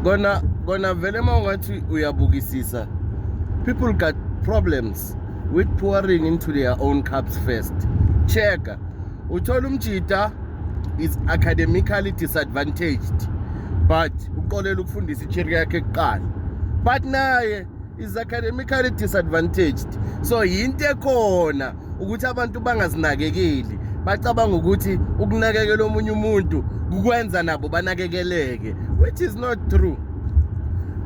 kona kona vele uma ungathi uyabukisisa people got problems with pouring into their own cups first checka uthola umjita is academically disadvantaged but uqolela ukufundisa ichiri yakhe kuqala but naye is academically disadvantaged so yinto ekhona ukuthi abantu bangazinakekeli bacabanga ukuthi ukunakekela omunye umuntu kukwenza nabo banakekeleke which is not true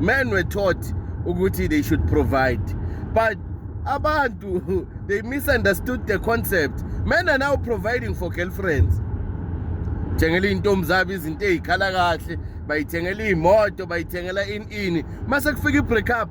men were taught ukuthi they should provide but abantu they misunderstood the concept men are now providing for girlfriends thengela iy'ntombi zabo izinto ey'khala kahle bayithengela iy'moto bayithengela ini ini mase kufika i-break up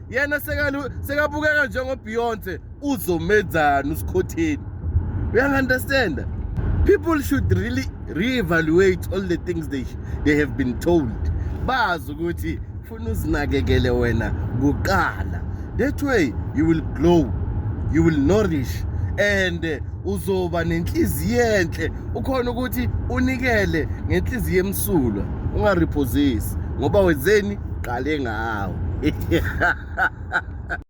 yena sekabukeka njengobeyonce uzomenzani usikhotheni uyangi-understanda people should really re-evaluate all the things they, they have been told bazi ukuthi funa uzinakekele wena kuqala that way you will glow you will nourish and eh, uzoba nenhliziyo enhle ukhona ukuthi unikele ngenhliziyo emsulwa ungarephosisi ngoba wenzeni qale ngawo